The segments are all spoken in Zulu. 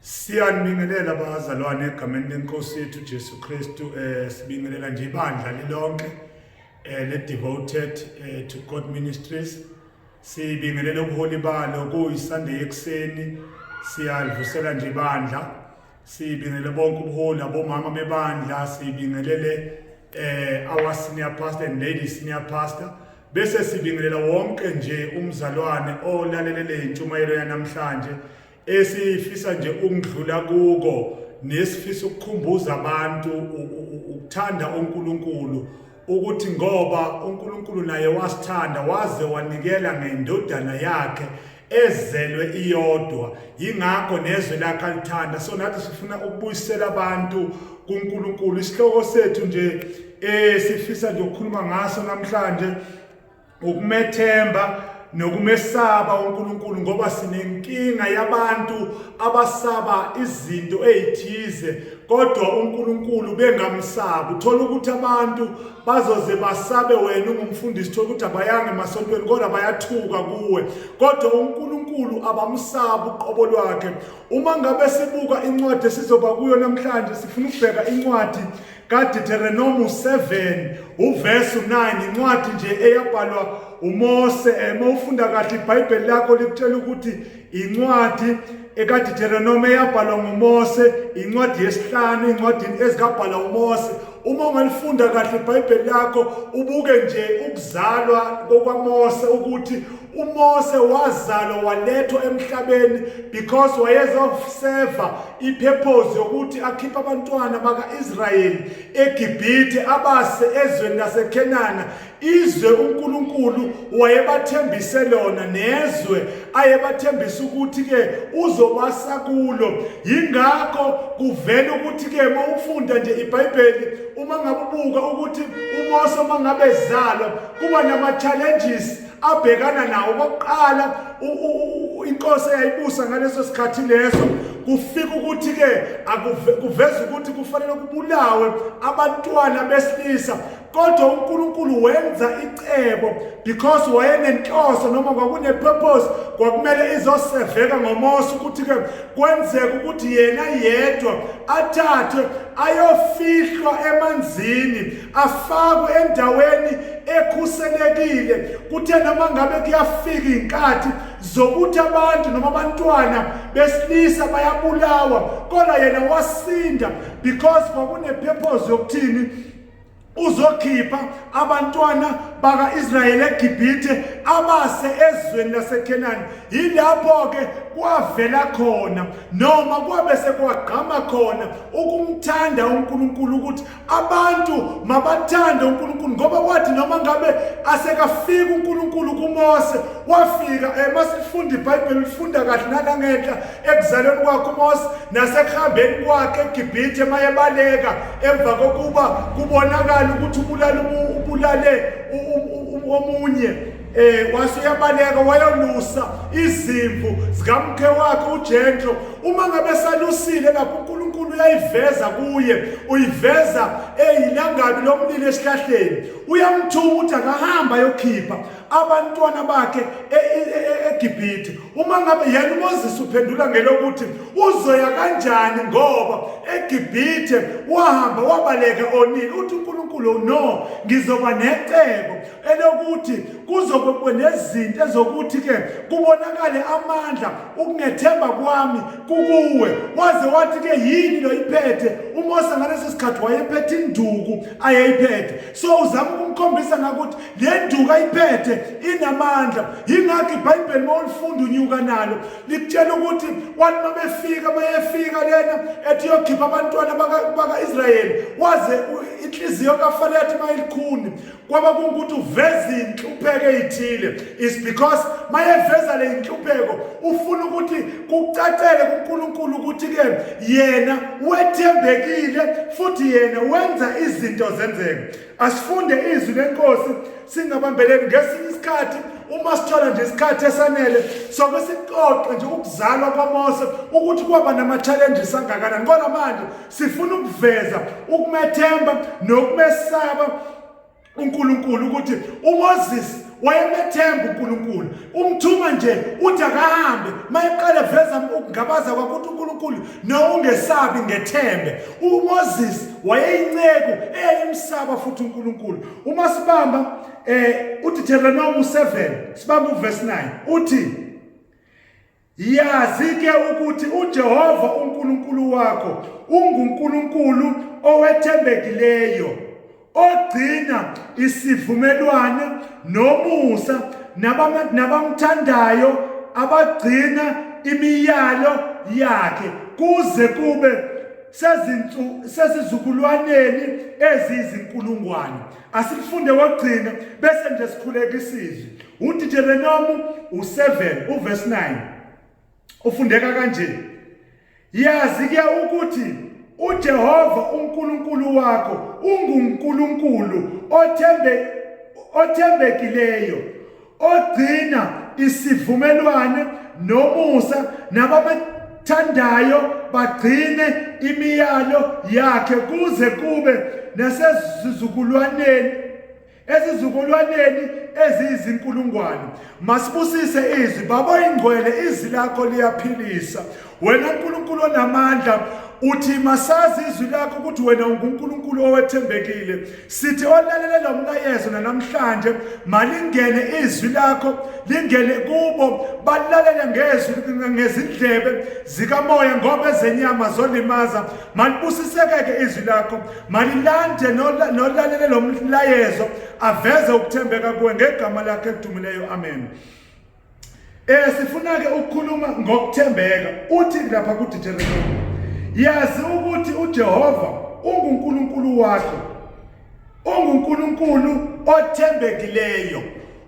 Siyanibingelela bazalwane egameni lenkosi yethu Jesu Kristu eh sibingelela nje ibandla lilonke eh le devoted eh, to God ministries sibingelela ubuholi balo kuyiSunday ekseni siyalivusela nje ibandla sibingelele bonke ubuholi abomama bebandla sibingelele eh our senior pastor and lady senior pastor bese sibingelela wonke nje umzalwane olalelele intshumayelo yanamhlanje esifisa nje ukudlula kuko nesifisa ukukhumbuza abantu ukuthanda uNkulunkulu ukuthi ngoba uNkulunkulu naye wasithanda waze wanikela ngendodana yakhe ezelwe iyodwa yingakho nezwe lakhe alithanda so nathi sifuna ukubuyisela abantu kuNkulunkulu isihloko sethu nje eh sifisa nje ukukhuluma ngaso namhlanje ukumethemba nokumesaba uNkulunkulu ngoba sinenkinga yabantu abasaba izinto ezithize kodwa uNkulunkulu bengamsabi uthola ukuthi abantu bazoze basabe wena ungumfundisi thola ukuthi abayanga emasontweni kodwa bayathuka kuwe kodwa uNkulunkulu abamsabi uqobo lwakhe uma ngabe sibuka incwadi esizoba kuyo namhlanje sifuna ukubheka incwadi kaDitheronomu 7 uverse 9 incwadi nje eyabhalwa uMose uma ufunda kahle iBhayibheli lakho likutshela ukuthi incwadi ekaDitheronomu eyabhalwa nguMose incwadi yesihlanu incwadini ezikabhala uMose uma ungalifunda kahle iBhayibheli lakho ubuke nje ukuzalwa kokwaMose ukuthi uMose wazalwa walethwa emhlabeni because wayezoseva ipurpose yokuthi akhiphe abantwana baka-israyeli egibhithe abase ezweni lasekhenana izwe unkulunkulu wayebathembise lona nezwe ayebathembisa ukuthi-ke uzobasa kulo yingakho kuvela ukuthi-ke uma ufunda nje ibhayibheli uma ngabe ubuka ukuthi umose uma ngabe zalwa kuba nama-challenges abhekana nawo kokuqala inkosi eyayibusa ngaleso sikhathi leso kufika ukuthi ke kuveza ukuthi kufanele kubulawe abantwana besilisa kodwa uNkulunkulu wenza icebo because wayenenhloso noma kwakune purpose kwakumele izoseveka ngomosi ukuthi ke kwenzeka ukuthi yena yedwa athathwe ayofihlwa emanzini afakwe endaweni ekhuselekile kuthe noma ngabe kuyafika inkathi zokuthi abantu noma abantwana besilisa bayabulawa kodwa yena wasinda because kwakunepurpose yokuthini uzokhipha abantwana baka-israyeli egibhithe abase ezweni lasekhenani yilapho-ke kwavela khona noma kwabe sekwagqama khona ukumthanda unkulunkulu ukuthi Abantu mabathande uNkulunkulu ngoba kwathi noma ngabe asekafika uNkulunkulu kuMose wafika eh masifunda iBhayibheli lifunda kahle nala ngenhla ekuzalweni kwakhe uMose nasekuhambeni kwakhe eGibhithe mayebaleka emva kokuba kubonakala ukuthi ubulala ubulale omunye Eh wase uyabaleka wayolusa izimvu zikamkhe wakhe uJenjo uma ngabe salusile lapho uNkulunkulu uyayiveza kuye uyiveza eyilangabi lomlilo esihlahleni uyamthuma ukuthi akahamba yokhipha abantwana bakhe e, e, e, eGibhithe uma ngabe yena uMoses uphendula ngelokuthi uzoya kanjani ngoba eGibhithe wahamba wabaleka onile uthi uNkulunkulu no ngizoba necebo elokuthi kuzobe nezinto ezokuthi ke kubonakale amandla ukungethemba kwami kukuwe waze wathi ke yini lo iphethe uMose ngalesi sikhathi wayephethe induku ayeyiphethe so uzama ukumkhombisa ngakuthi le nduku ayiphethe inamandla yingakho iBhayibheli mawulifunda unyuka nalo likutshela ukuthi wathi mabefika bayefika lena ethi yokhipha abantwana baka-Israyeli waze inhliziyo kaFalethe mayilikhuni kwaba kungukuthi uveza inhlupheko ezithile is because mayeveza le inhlupheko ufuna ukuthi kucacele kuNkulunkulu ukuthi ke yena wethembekile futhi yena wenza izinto zenzeke asifunde izwi lenkosi singabambeleli ngesinye isikhathi uma sithola nje isikhathi esanele soke sixoxe nje ukuzalwa kwaMose ukuthi kwaba nama-challenges angakanani kodwa manje Sifuna ukuveza ukumethemba nokumesaba uNkulunkulu ukuthi uMoses wayemethemba uNkulunkulu umthuma nje uthi akahambe mayeqale veza ukungabaza kwakuthi uNkulunkulu nowungesabi ngethembe uMoses wayeyinceku eyayimsaba futhi uNkulunkulu uma sibamba eh uDeuteronomy 7 sibamba uverse 9 uthi Yazi-ke ukuthi uJehova uNkulunkulu wakho unguNkulunkulu owethembekileyo, ogcina isivumelwano nomusa nabamthandayo abagcina imiyalo yakhe kuze kube sezizukulwaneni eziyizinkulungwane. Asifunde wokugcina bese nje sikhuleka isizwe. UDijerenomu u7 uverse 9. Ufundeka kanje. Yazi ke ukuthi uJehova uNkulunkulu wakho unguNkulunkulu othembe othembekileyo ogcina isivumelwane nomusa nababethandayo bagcine imiyalo yakhe kuze kube nasezizukulwaneni ezizukulwaneni eziyizinkulungwane masibusise izwi baba ingcwele izwi lakho liyaphilisa Wena Nkulunkulu onamandla uthi masazi izwi lakho ukuthi wena unguNkulunkulu owethembekile sithi olalele lo mlayezo nanamhlanje malingene izwi lakho lingene kubo balalele ngezwi ngezindlebe zikamoya ngoba ezenyama zolimaza malibusisekeke izwi lakho malilande nolalele lo mlayezo aveze ukuthembeka kuwe ngegama lakhe elidumileyo amen Eh sifuna ke ukukhuluma ngokuthembeka uthi lapha ku Deuteronomy yazi ukuthi uJehova unguNkulunkulu wakho unguNkulunkulu othembekileyo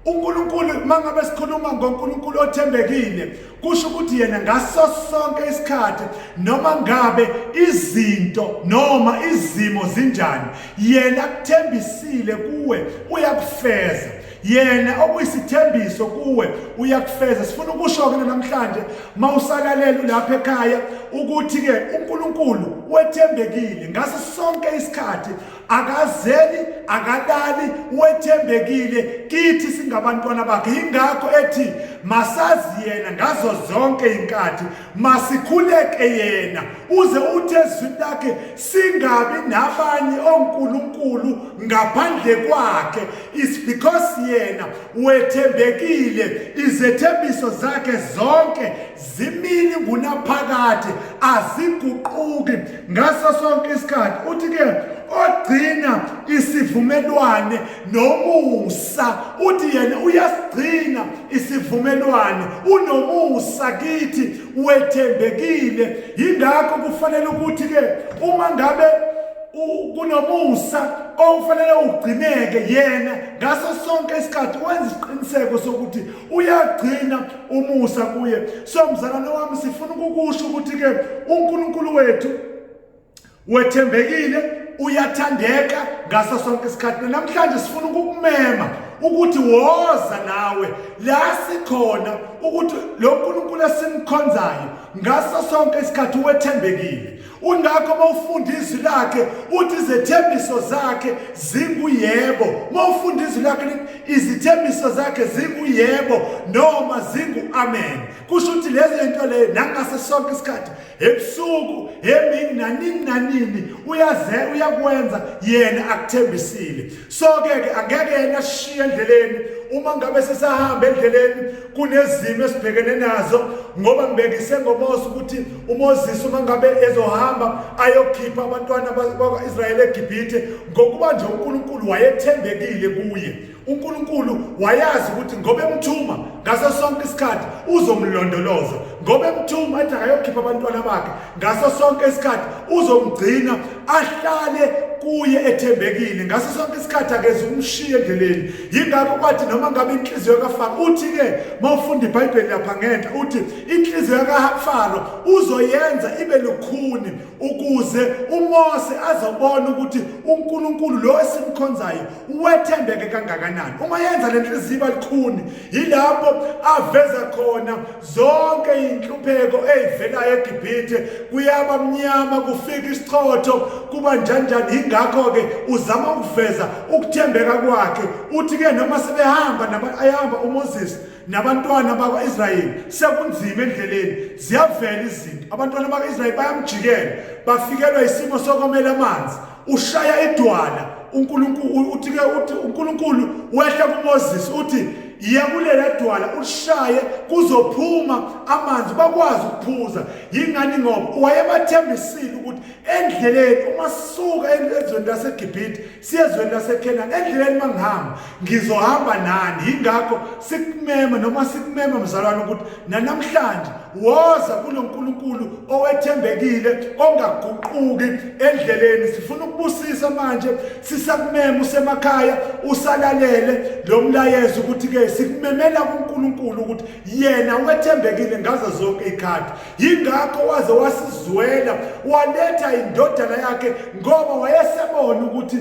uNkulunkulu mangabe sikhuluma ngoNkulunkulu othembekile kusho ukuthi yena ngaso sonke isikhathi noma ngabe izinto noma izimo zinjani yena kuthembisile kuwe uyakufeza yena okuyisithembiso kuwe uyakufeza sifuna ukusho-ke namhlanje uma usalalele ulapha ekhaya ukuthi-ke unkulunkulu wethembekile ngaso sonke isikhathi akazeli akalali wethembekile kithi singabantwana bakhe yingakho ethi masazi yena ngazo zonke iy'nkathi masikhuleke yena uze uthi ezwini lakhe singabi nabanye onkulunkulu ngaphandle kwakhe is because yena wethembekile izethembiso zakhe zonke zimini ngunaphakade aziguquki ngaso sonke isikhathi uthi ke ogcina isivumelwane nomusa uthi yena uyasigcina isivumelwane unomusa kithi wethembekile yingakho kufanele ukuthi ke uma ngabe kunomusa okufanele ugcineke yena ngaso sonke isikhathi wenza isiqiniseko sokuthi uyagcina umusa kuye so mzalwane wami sifuna ukukusho ukuthi-ke unkulunkulu wethu wethembekile uyathandeka ngaso sonke isikhathi namhlanje sifuna ukukumema ukuthi woza nawe la sikhona ukuthi lo nkulunkulu esimkhonzayo ngaso sonke isikhathi wethembekile Ungakho uma ufunda izwi lakhe uthi izethembiso zakhe zinguyebo. Uma ufunda izwi lakhe lithi izithembiso zakhe zinguyebo noma zingu-amen. Kusho ukuthi lezo zinto leyo nangaso sonke isikhathi ebusuku emini nanini nanini uyaze uyakwenza yena akuthembisile. Soke ke angeke yena sishiye endleleni uma ngabe sisahamba endleleni kunezimo esibhekene nazo ngoba ngibekise ngoMose ukuthi uMoses uma ngabe ezohamba ayokhipha abantwana bakwa-Israyeli eGibhithe ngokuba nje uNkulunkulu wayethembekile kuye uNkulunkulu wayazi ukuthi ngoba emthuma ngaso sonke isikhathi uzomlondoloza ngoba emthuma athi akayokhipha abantwana bakhe ngaso sonke isikhathi uzomgcina ahlale kuye ethembekile ngaso sonke isikhathi akeze ukumshiya endleleni yingakho kwathi noma ngabe inhliziyo kafaro uthi-ke uma ufunda ibhayibheli lapha ngenhla uthi inhliziyo kafaro uzoyenza ibe lukhuni ukuze umose azobona ukuthi unkulunkulu lo esimkhonzayo wethembeke kangakanani uma yenza le nhliziyo iba lukhuni yilapho aveza khona zonke inhlupheko ezivelayo eGibhithe kuyaba mnyama kufika isichotho kuba njanjani ingakho ke uzama ukuveza ukuthembeka kwakhe uthi ke noma sebehamba nabayahamba uMoses nabantwana bakwa-israyeli sekunzima endleleni ziyavela izinto abantwana bakwa-israyeli bayamjikela bafikelwa isimo sokomela amanzi ushaya idwala uNkulunkulu uthi ke uthi uNkulunkulu wehla kuMoses uthi yiya kulela dwala ulishaye kuzophuma amanzi bakwazi ukuphuza yingani ngoba wayebathembisile ukuthi endleleni uma sisuka ezweni laseGibhithe siye ezweni laseKhenani endleleni mangihamba ngizohamba nani yingakho sikumema noma sikumema mzalwane ukuthi nanamhlanje woza kulo nkulunkulu owethembekile ongaguquki endleleni sifuna ukubusisa manje sisakumema usemakhaya usalalele lo mlayezo ukuthi-ke sikumemela kunkulunkulu ukuthi yena wethembekile ngazo zonke iy'khathi yingakho waze wasizwela waletha indodana yakhe ngoba wayesebona ukuthi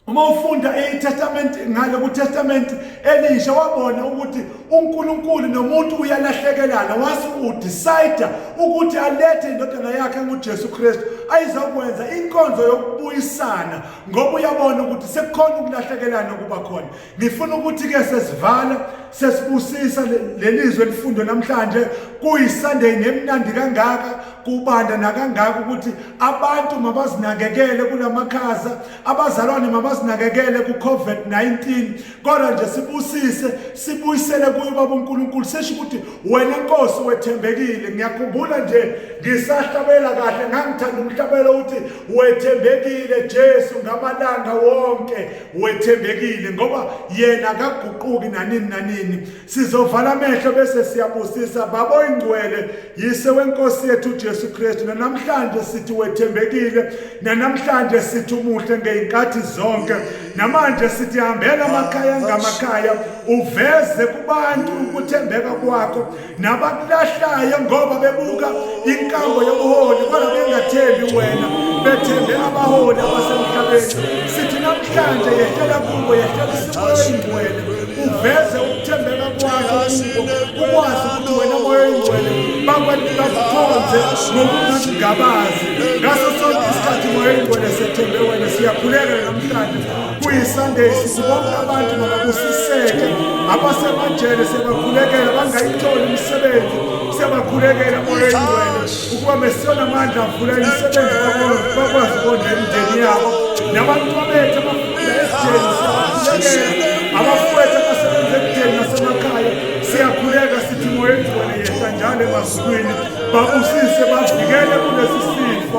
uma ufunda itestament ngale kutestament elisha wabona ukuthi uNkulunkulu nomuntu uyalahlekelana wase udecide ukuthi alethe indodana yakhe nguJesu Kristu ayizokwenza inkonzo yokubuyisana ngoba uyabona ukuthi sekukhona ukulahlekelana kuba khona Ngifuna ukuthi ke sesivala sesibusisa lelizwe elifundwe namhlanje kuyiSunday nemnandi kangaka kubanda nakangaka ukuthi abantu mabazinakekele kulamakhaza abazalwane mabazinakekele kuCovid-19 kodwa nje sibusise sibuyisele kuyo baba uNkulunkulu sesho ukuthi wena Nkosi wethembekile ngiyakhumbula nje ngisahlabela kahle ngangithanda umhlabelo ukuthi wethembekile Jesu ngamalanga wonke wethembekile ngoba yena akaguquki nanini nanini sizovala amehlo bese siyabusisa baba oyingcwele yise wenkosi yethu uJesu Kristu namhlanje sithi wethembekile namhlanje sithi umuhle ngeinkathi zonke namanje sithi hambela amakhaya ngamakhaya uveze kubantu ukuthembeka kwakho nabakulahlayo ngoba bebuka inkambo yobuholi kodwa bengathembi wena bethembe abaholi abasemhlabeni sithi namhlanje yehlela kubo yehlela isimoyeni wena uveze ukuthembeka kwakho kubo ukwazi ukuthi wena moyengcwele bakwathi bakukhonze ngokungakugabazi ngaso sonke isikhathi moyengcwele sethembe wena siyakhuleka namhlanje kuyisunday sibonke abantu mababusiseke abasemajele siyabakhulekela bangayitholi imisebenzi siyabakhulekela oyengcwele ukuba mesiyona amandla avula imisebenzi bakwazi ukondla imindeni yabo nabantwa bethu abafunda esijeni siyabakhulekela abafowethu abasebenza ekudeni nasemakhaya siyakhuleka sithi moyengcwele yehla njalo emazulwini babusise bavikele kulesi sifo